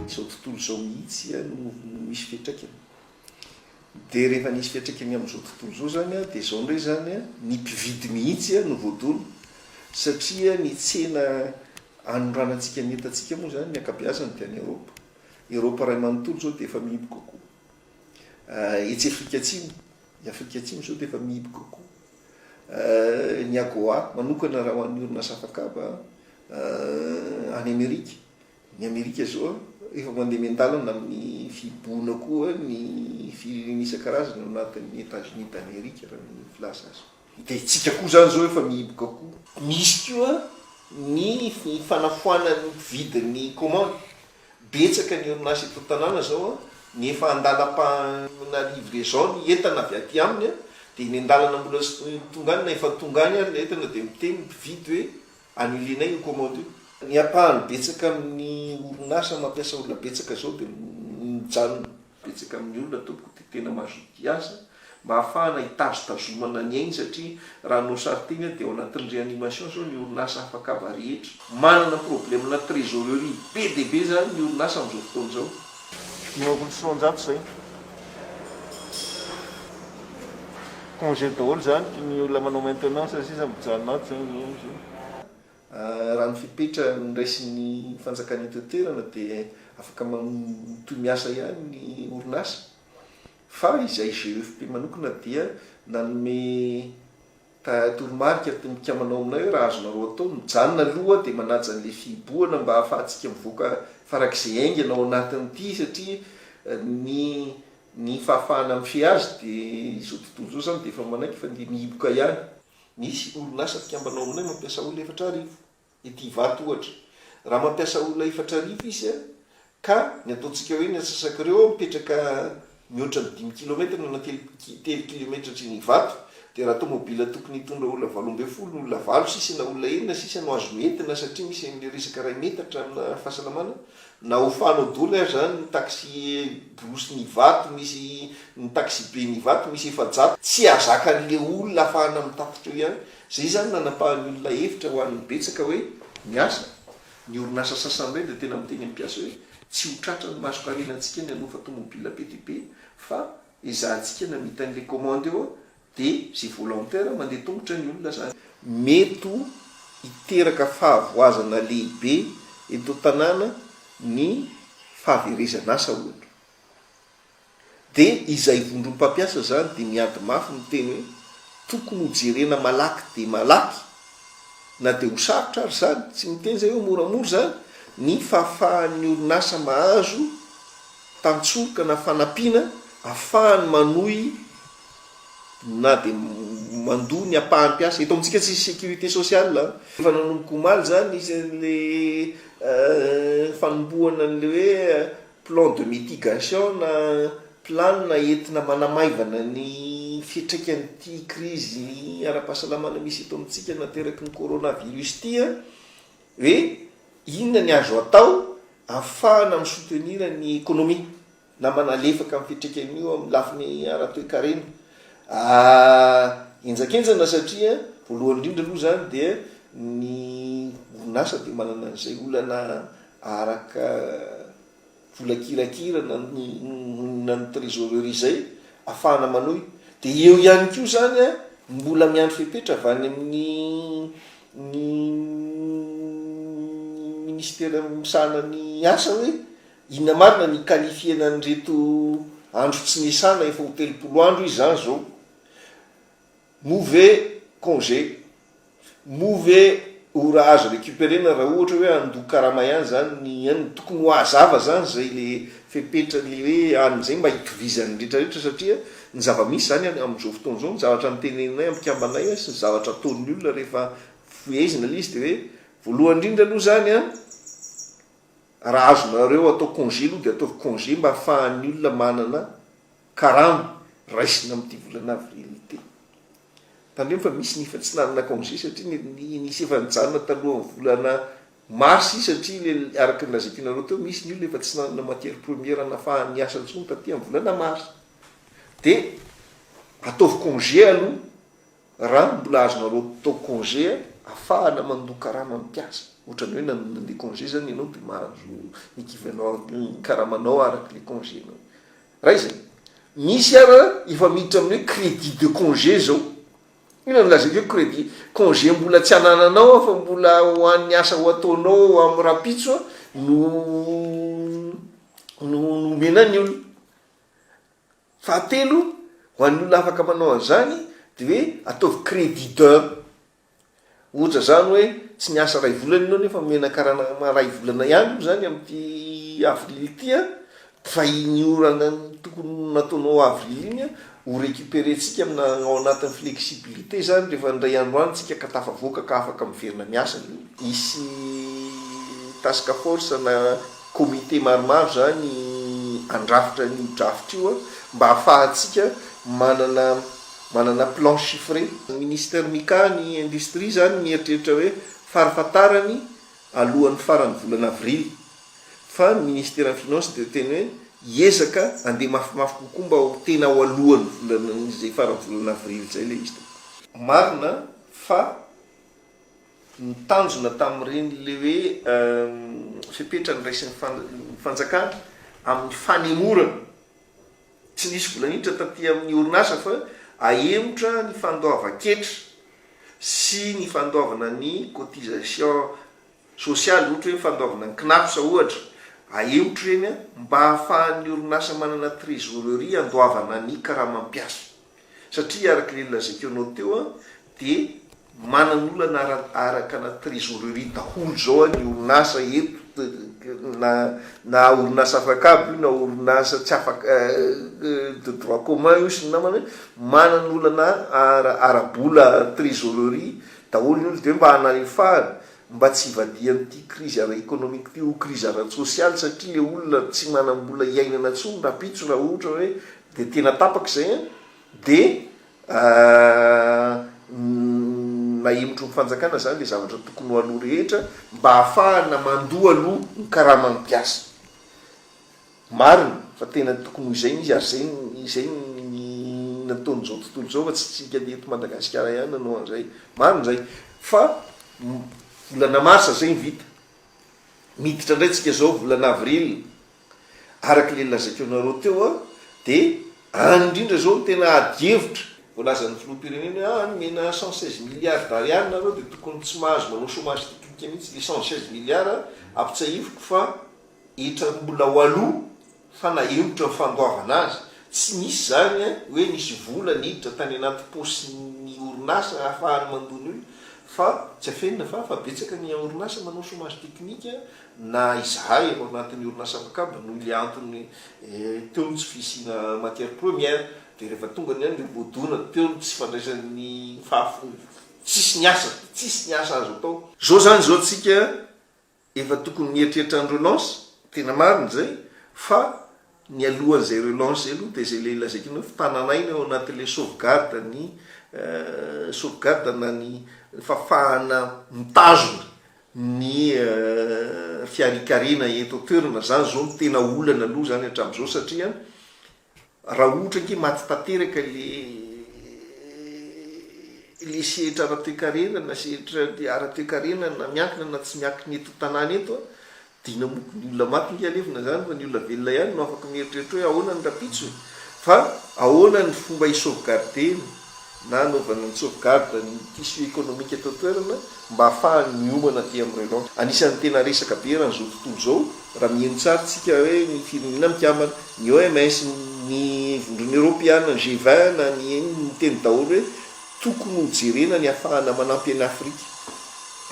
Izao tontolo izao mihitsy no misy fiantraikany. Dia rehefa nisy fiantraikany amin'izao tontolo izao izany dia izao indray izany, ny mpividy mihitsy no voadona. Satria ny tsena anondranantsika ny entantsika moa izany ny ankabeazany dia any Eropa. Eropa iray manontolo izao dia efa mihiboka koa. Etsy Afrika Atsimo, i Afrika Atsimo izao dia efa mihiboka kokoa. Ny AGOA manokana raha ho an'ny orinasa afakaba any Amerika, ny Amerika izao efa mandeha miandalana amin'ny fihibohana koa ny firenena isan-karazany ao anatin'ny Etats Unis d'Amerique raha ny filaza azy. Dia isika koa izany izao efa mihiboka koa. Misy koa ny fanafoanany ny mpividy ny commande. Betsaka ny orinasa eto an-tanàna izao ny efa an-dalam-pahana livraison ny entana avy aty aminy dia eny an-dalana mbola tonga any na efa tonga any ary ilay entana dia miteny ny mpividy hoe annuler-nay io commande io. Ny ampahany betsaka amin'ny orinasa mampiasa olona betsaka izao dia mijanona. Betsaka amin'ny olona tompoko dia tena mazotoa asa mba hahafahana hitazotazomana ny ainy satria raha hanao sary tena dia ao anatin'ny réanimation izao ny orinasa hafakaba rehetra. Manana problemena trésorerie be dia be izany ny orinasa amin'izao fotoana izao. Ny eo amin'ny soanjato izay congé daholo izany, ny olona manao maintenance sisa mijanona ato izany izao. Raha ny fepetra noraisin'ny fanjakana eto an-toerana dia afaka mitohy miasa ihany ny orinasa fa izay GEFP manokana dia nanome toromarika ny mpikambana ao aminay hoe raha azonareo atao mijanona aloha dia manaja an'ilay fihibohana mba hahafahantsika mivoaka farak'izay haingana ao anatin'ity satria ny ny fahafahana mifehy azy dia izao tontolo izao izany dia efa manaiky fa dia mihiboka ihany. Misy orinasa mpikambana ao aminay mampiasa olona efatra arivo. Ity ivato ohatra. Raha mampiasa olona efatra arivo izy ka ny ataontsika hoe ny antsasak'ireo mipetraka mihoatra ny dimy kilometatra na telo kilometatra atriny ivato dia raha tomobila tokony hitondra olona valo ambin'ny folo, olona valo sisa na olona enina sisa no azony entina satria misy an'ilay resaka iray metatra amina fahasalamana Na ho fano doly aza zany ny taxi brousse n'ivato misy ny taxibe n'ivato misy efajato tsy azakan'le olona afahana mitatitra eo ihany zay zany nanapahan'ny olona hevitra ho an'ny betsaka hoe ny asa ny orinasa sasan'ireny dia tena miteny amin'ny mpiasa hoe tsy ho tratran'ny masokarenantsika ny hanofa tomobila be dia be fa ezahantsika namita an'le commande eo Dia izay volontaire mandeha tongotra ny olona zany. Mety ho hiteraka fahavoazana lehibe eto an-tanàna ny fahaverezan'asa ohatra. Dia izay vondrom-pampiasa izany dia miady mafy miteny hoe tokony ho jerena malaky dia malaky, na dia ho sarotra ary izany, tsy miteny izay hoe moramora izany, ny fahafahan'ny orinasa mahazo tantsoroka na fanampiana ahafahany manohy na dia mandoa ny ampahan'ny mpiasa, eto amintsika tsisy sécurité sociale an! Efa nanomboka omaly izany ilay fanombohana an'ilay hoe plan de mitigation na planina entina manamaivana ny fiantraikan'ity krizy ara-pahasalamana misy eto amintsika nateraky ny coronavirus ity an! hoe inona ny azo atao ahafahana mi-soutenir ny économie na manalefaka amin'ny fiantraikany io amin'ny lafiny ara-toekarena henjakenjana satria voalohany indrindra aloha izany dia ny orinasa dia manana an'izay olana araka vola kirakira na na ny trésorerie izay afahana manohy dia eo ihany koa izany a mbola miandry fepetra avy any amin'ny ny ministera misahana ny asa hoe Inona marina ny qualifier-na an'ireto andro tsy niasana efa ho telopolo andro izy zany zao? Move congé, move ora azo recuperer-na raha ohatra hoe handoa karama ihany zany ny anona. Tokony ho hazava zany izay le fepetra le hoe any zay mba hitovizan'ny rehetra rehetra satria ny zava-misy zany amin'izao fotoana izao ny zavatra noteneninay ampikambanay sy ny zavatra ataon'ny olona rehefa fohezina le izy de hoe voalohany indrindra aloha zany an! Raha azonareo atao congé aloha dia ataovy congé mba afahan'ny olona manana karama raisina amin'ity volana avril ity. Tandremo fa misy ny efa tsy nanana congé satria ny nisy efa nijanona talohan'ny volana mars izy satria ilay araka ny lazaintinareo teo misy ny olona efa tsy nanana matière première nafahany niasa intsony taty amin'ny volana mars dia ataovy congé aloha Raha mbola azonareo atao congé afahana mandoa karama ny mpiasa, otrany hoe nanona le congé zany ianao de mahazo equivalent ny karamanao araka le congé nao. Raha izay. Misy ara efa miditra amin'ny hoe crédit de congé zao. Inona no lazaiko hoe crédit? Congé mbola tsy anananao aho fa mbola ho an'ny asa ho ataonao amin'ny rahampitso no no no omena ny olona. Fahatelo, ho an'ny olona afaka manao an'izany, dia hoe ataovy crédit d'un. Ohatra izany hoe tsy niasa iray volana ianao nefa omena karama iray volana ihany moa izany amin'ity avril ity an, fa iny orana tokony nataonao avril iny an, ho récupéré-tsika amina ao anatin'ny flexibilité izany rehefa indray andro any tsika ka tafavoaka ka afaka miverina miasa. Hisy task force na. Comité maromaro izany handrafitra an'io draft io mba hahafahantsika manana manana plan chiffré. Ny Minister Mika ny industrie izany mieritreritra hoe farafatarany alohan'ny faran'ny volana avril. Fa ny Ministeran'ny Finances dia teny hoe hiezaka handeha mafimafy kokoa mba ho tena ao alohan'ny volanan'izay faran'ny volana avril izay ilay izy tompoko. Marina fa. ny tanjona tamin'ireny le hoe fepetra niraisin'ny fanjakana amin'ny fanemorana tsy nisy vola niditra taty amin'ny orinasa fa ahemotra ny fandoavan-ketra sy ny fandoavana ny cotisation sociale ohatra hoe fandoavana ny cnaps ohatra ahemotra ireny mba hahafahan'ny orinasa manana trésorerie andoavana ny karamam-piasa. Satria araka ilay nolazaiko anao teo dia manan'olana ara-araka la trésorerie daholo zao ny orinasa eto na na orinasa afak'abo io na orinasa tsy afak de droit commun io sy ny namany hoe manan'olana ara ara-bola trésorerie daholo ny olona dia hoe mba hanalefahana mba tsy hivadihan'ity crise ara économique ity ho crise ara-tsosialy satria ilay olona tsy manam-bola hiainana tsony rapitso raha ohatra hoe Dia tena tapaka izay an! Dia nahemotro ny fanjakana izany ilay zavatra tokony ho aloha rehetra mba hahafahana mandoa aloha ny karaman'ny mpiasa. Marina fa tena tokony ho izay no izy ary izay izay ny nataon'izao tontolo izao fa tsy isika eto Madagasikara ihany nanao an'izay. Marina izay fa volana marsa izay ny vita. Miditra indray isika izao volana avril Araka ilay nolazaiko anareo teo dia any indrindra izao no tena ady hevitra. Voalazan'ny filoham-pirenena hoe any omena cent seize milliards d'ariary nareo dia tokony tsy mahazo manao chomage technique mihitsy ilay cent seize milliards ampitsahiviko fa hetraroa mbola ho aloha fa na heotra ny fandoavana azy tsy nisy izany hoe nisy vola niditra tany anaty paosin'ny orinasa hahafahany mandoa ny olona fa tsy afenina fa fa betsaka ny orinasa manao chomage technique na izahay ao anatin'ny orinasa Mcab noho ilay antony teo ny tsy fisiana matière première dia rehefa tonga ny andro dia voadona teo ny tsy fandraisan'ny tsisy ny asa tsisy ny asa azo atao. Zao zany zao tsika efa tokony mieritreritra ny relance tena marina izay fa Nialohan'izay relance izay aloha dia izay ilay lazaiko anao fa tanan'aina ao anatin'ilay sauvegarde ny sauvegarde na ny fahafahana mitazona ny fiarikarena eto an-toerana. Izany izao no tena olana aloha izany hatramin'izao satria raha ohatra ange maty tanteraka ilay ilay sehatra ara-toekarena na sehatra ara-toekarena na miankina na tsy miankina eto an-tanàna eto Dina moko, ny olona maty nge alevina zany fa ny olona velona ihany no afaka mieritreritra hoe ahoana ny rapitsony fa ahoana ny fomba hi sauvegarder-na na anaovana ny sauvegarde ny tissu économique eto an-toerana mba hahafahany miomana aty amin'ny relance. Anisan'ny tena resaka be eran' izao tontolo izao raha miheno tsara tsika hoe ny firenena mikambana, ny OMS, ny vondrona eropeana, ny G20 na ny inn miteny daholo hoe Tokony ho jerena ny afahana manampy an'i Afrika.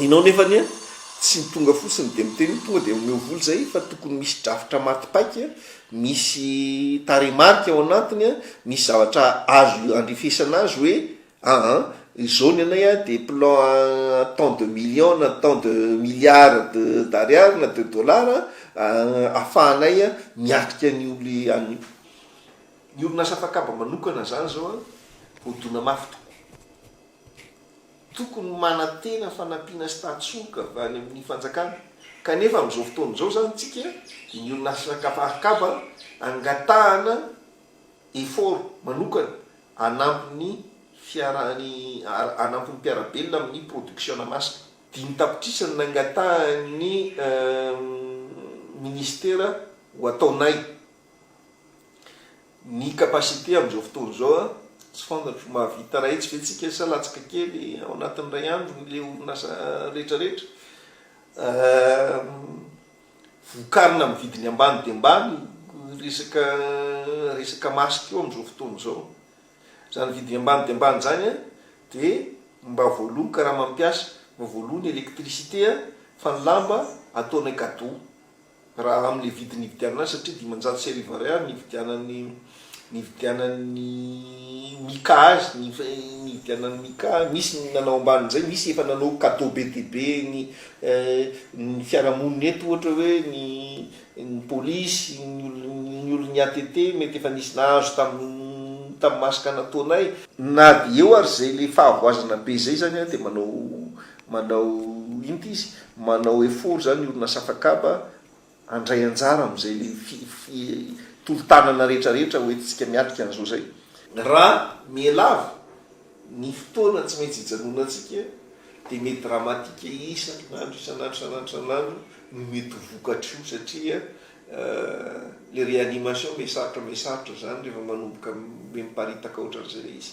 Ianao nefa anie tsy tonga fotsiny dia miteny hoe tonga dia omeo vola izay fa tokony misy drafitra maty paika, misy tarehimarika ao anatiny, misy zavatra azo iandrefesana azy hoe aa izao ny anay dia plan tant de millions na tant de milliards de d'ariary na de dollars ahafahanay miatrika an'io an'io. Ny orinasa mpakaba manokana izany izao an, hodona mafy tokoa. Tokony manantena fanampiana sy tatsoka avy any amin'ny fanjakana. Kanefa amin'izao fotoana izao izany tsika dia ny orinasa mpakaba angatahana effort manokana hanampy ny fiarany hanampy ny mpiara-belona amin'ny production-na masina. Dimy tapitrisa no nangatahan'ny Minisitera ho ataonay Ny capacité amin'izao fotoana izao an, tsy fantatro, mahavita iray hetsy ve tsika sa latsaka kely ao anatin'ny iray andro ny le orinasa rehetra rehetra? vokarina amin'ny vidiny ambany dia ambany ny resaka resaka masque io amin'izao fotoana izao. Izany vidiny ambany dia ambany izany an, dia mba voaloa ny karaman'ny mpiasa, mba voaloa ny électricité an, fa ny lamba ataonay cadeau. Raha amin'ilay vidiny nividianana azy, satria dimanjato sy arivo ariary nividianan'i, nividianan'i Mika azy, ny nividianan'i Mika, misy ny nanao ambanin'izay, misy efa nanao cadeau be dia be ny, ny fiarahamonina eto ohatra hoe ny, ny polisy, ny olon'ny, ny olon'ny ATT mety efa nisy nahazo tamin'ny, tamin'ny maha sikana taonay. Na dia eo ary izay ilay fahavoazana be izay izany an, dia manao, Manao inty izy, manao effort zany orinasa Fakaba handray anjara amin'izay le tolo-tanana rehetra rehetra ho entintsika miatrika an'izao izay. Raha mihalava ny fotoana tsy maintsy hijanonantsika dia mety dramatique isan'andro isan'andro isan'andro isan'andro no mety ho vokatry io satria Euh le réanimation me sarotra me sarotra zany rehefa manomboka me miparitaka otran'izay le izy.